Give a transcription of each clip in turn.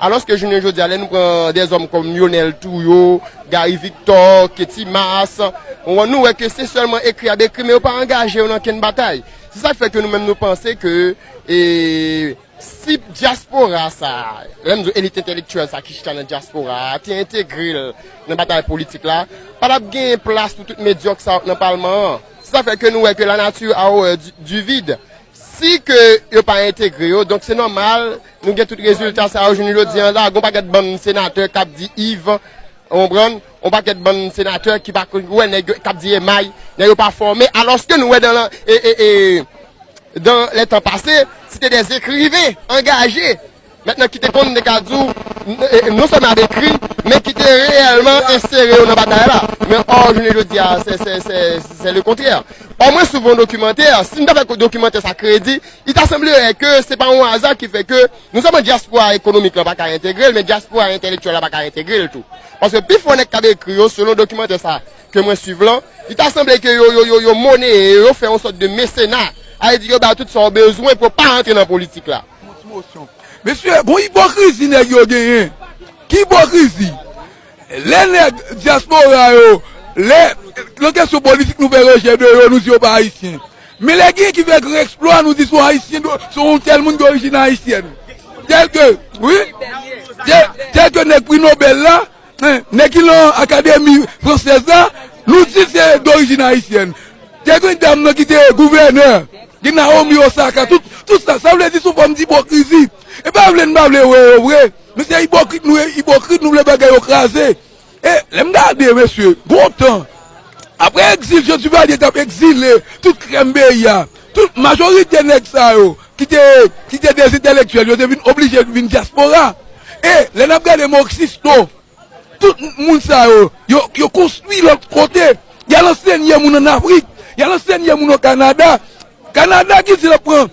Alòske jounen jodi a lè nou pran dèzòm kòm Lyonel Trouillot, Gary Victor, Ketty Masse, nou wè ke se sèlman ekri y ap ekri men yo pa angaje yo nan okenn batay. Se sa k fè ke nou menm nou panse ke si dyaspora sa a, lè m di w elit entelektyèl sa a ki chita nan dyaspora a te entegre l nan batay politik la, pa t ap gen plas pou tout medyòk sa yo k nan palman an. Se sa k fè ke nou wè ke la nature a horreur du vide. Si ke yo pa entegre yo, donk se nòmal nou gen tout rezilta sa yo jounen jodi an la. Gon pakèt bann senatè k ap di iv, ou konprann, on pakèt bann senatè ki pa konn, ou wè nèg yo k ap di emay, nèg yo pa fòme, alòske nou wè dan la, e, e, e, dan lè tan pase, se te dè ekriven angaje. Mèt nan ki te konn te ka di w, non sèlman y ap ekri, men ki te reyèlman ensere yo nan batay la. Men ò, jounen jodi a, sè le kontrè. Ò mwen souf yon dokimantè, si m ta fè dokimantè sa kredi, li ta sanblerè ke se pa yon aza ki fè ke non sèlman dyaspora ekonomik lan pa ka entegre l, men dyaspora entèlektyèl la pa ka entegre l tou. Paske pi fò nèg k ap ekri yo, selon dokimantè sa ke mwen suiv lan, li ta sanble ke yo, yo, yo moneye yo, yo fè yon sòt de mesena, sa vle di yo ba yo tout sa yo bezwen pou yo pa antre nan politik la. Mesye gon ipokrizi nèg yo genyen Ki ipokrizi Lè nèg dyaspora yo Lè nan kesyon politik nou fè rejè de yo nou di yo pa ayisyen Men lè genyen ki fè gran eksplwa nou di son ayisyen Son tèl moun dorijin ayisyèn Tèlke wi Tèlke nèg pri nobèl la Nèg ki lan akademi fransèz la nou di se dorijin ayisyèn. Te gen dam nan ki te gouvènè, gen Nawomi Osaka, tout sa. Sa vle di son fòm dipokrizi. E pa vle n pa vle wè yo vre. Men se ipokrit nou ye, ipokrit nou vle bagay yo kraze. E lè m gade mesye, gon tan, apre egzil Jan Divalye t ap egzile tout krèm peyi a, tout majorite nèg sa yo. ki te ki te de entèlektyèl yo te vin oblije vin dyaspora e lè n ap gade mo ksisto tout moun sa yo yo yo konstwi lòt kote y al ansenye moun ann afrik y al ansenye moun o kanada kanada ki di l ap pran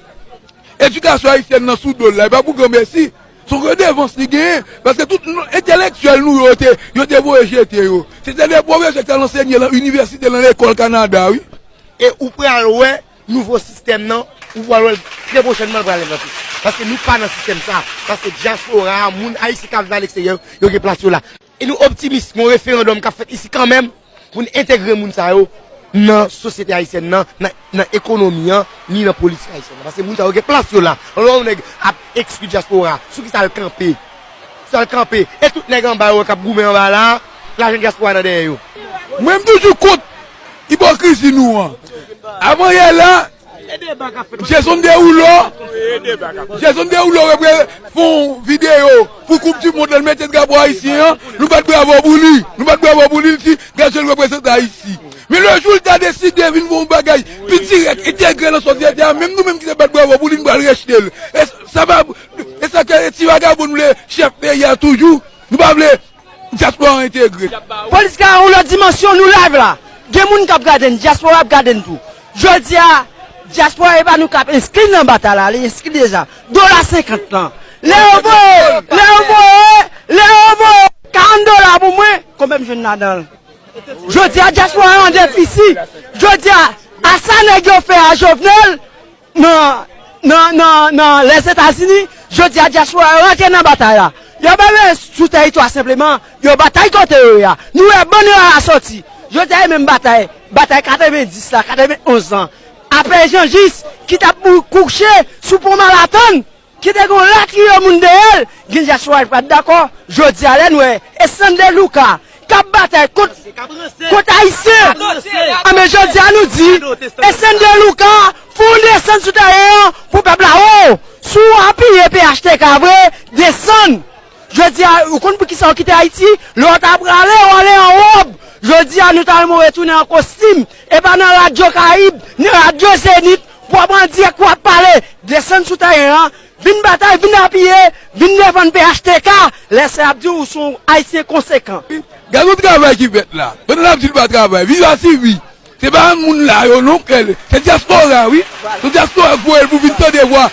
edikasyon ayisyèn nan sou do l la e pa pou granmèsi s on redevans li genyen paske tout entèlektyèl nou yo te yo te voye jete yo se te de pwofesè k t al ansenye lan inivèsite lan lekòl kanada wi e ou pral wè Nouvo sistèm nan, ou pral wè l trè pwochènman l pral envante. Paske nou pa nan sistèm sa a. Paske dyaspora a, moun ayisyen k ap viv aleksteryè yo, yo gen plas yo la. E nou optimis gen yon referandòm k ap fèt isi kanmèm pou n entegre moun sa yo nan sosyete ayisyèn nan, nan ekonomi an, ni nan politik ayisyèn nan. Paske moun sa yo gen plas yo la. Lè w wè yon nèg ap ekskli dyaspora a, sou ki sa l kanpe? Sou sa l kanpe? E tout nèg anba yo k ap goumen anba la a, lajan dyaspora a nan dèyè yo. Mwen m toujou kont Ipokrizi nou an. Avan yè la, Jason Derulo Jason Derulo repre fè yon videyo pou koup di mond lan, li mete drapo ayisyen an, nou bat bravo pou li. Nou bat bravo pou li, li di Gazo l reprezante Ayiti. Men le jou li ta deside vin fè yon bagay pi dirèk, entegre nan sosyete a, menm nou menm ki te bat bravo pou li, nou pral rejte l. E sa pa e sa ke ti vagabon vle chèf peyi a toujou? Nou pa vle. Diaspora entegre. Police la yon lot dimension nou live la gen moun kap gade n diaspora ap gade n tou jodia diaspora epa nou kap enskri nan batay la li enskri deja dola 50 lan lè yo voye lè yo voye lè yo voye 40 dola pou mwen konbyen m jwenn ladanl jodia diaspora an defisi jodia a sa neg yo fè a jovenel Nan Lèzetazini, jodi a dyaspora yo rantre nan batay la. Yo pa vle sou teritwa senpleman, yo batay kote yo ye a. Nou wè bann yo ala soti. Jodi a yo menm batay, batay 90 la, 91 lan. Apre Jan Jis ki t ap kouche sou pon Malatonn. Ki te gen yon latriye moun dèyè l, gen dyaspora ki pa t dakò, jodi a lè n wè Estain de Luca k ap batay kont Ayisyen, anben jodi a nou di Estain de Luca fè yon desann sou tèren an pou pèp la wè w, si w apiye phtk vre desann, jodi a ou konn poukisa w kite Ayiti, lè w ta prale w ale an wòb, jodi a nou ta renmen w retounen an kostim, e pa nan radyo Karayib, ni radyo Zenith. Bwa bandi ak wap pale, desann sou tèren an, vin batay, vin apiye, vin defann phtk, lè sa yap diw ou son ayisyen konsekan. Gad yon travay ki fèt la. Pandan nap di nou pa travay. Viv a sivi. Se pa moun la yo non kle l. Se diaspora wi. Se diaspora k voye l pou vin tande vwa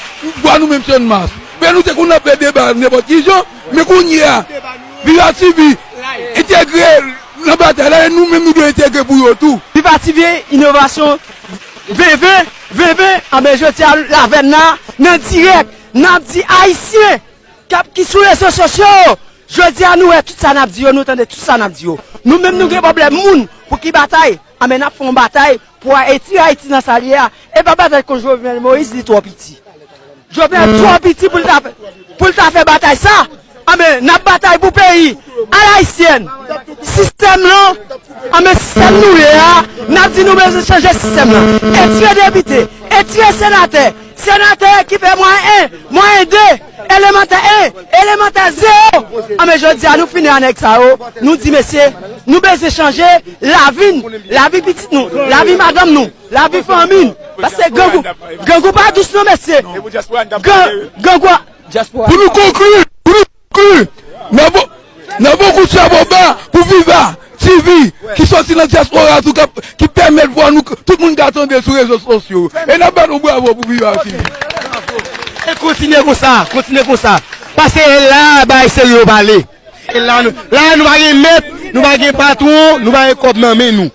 vwa nou menm Sean Mars. Fè nou se konn nap fè deba nenpot ki jan. Men kounye a. Viv a sivi. Entegre nan batay la. E nou menm nou dwe entegre pou yo tou. Viv a sivi inovasyon. Veve veve anben jodia l avè na nan dirèk nap di ayisyen kap ki sou rezo sosyo yo jodia nou wè tout sa nap di yo nou tande tout sa nap di yo nou menm nou gen pwoblèm moun pou ki batay anben nap fè yon batay pou ayiti ayiti nan sa l ye a epa batay kont jovenel moïse li twò piti. Jovenel twò piti pou l ta fè batay sa, anben n ap batay pou peyi alayisyèn. Sistèm lan, anben sistèm nou ye a, n ap di nou bezwen chanje sistèm lan. E tye depite, e tye senatè, senatè ki fè mwayen 1, mwayen 2, elemantè 1, elemantè 0, anben jodi a nou fini a nèg sa yo, nou di mesye nou bezwen chanje lavi n, lavi pitit nou, lavi madanm nou. Lavi fanmi paske grangou grangou pa dous non mesye grangou a. Pou nou konkli pou nou konkli nan bokou chabo ba pou viva TV ki soti nan dyaspora a tou ki pèmèt vwa nou tout moun ka tande l sou rezo sosyo e n ap bat yon bravo pou viva TV. E kontinye konsa kontinye konsa paske la a bay se yo pale la a nou pa gen mèt nou pa gen patwon nou pa gen kòb nan men nou.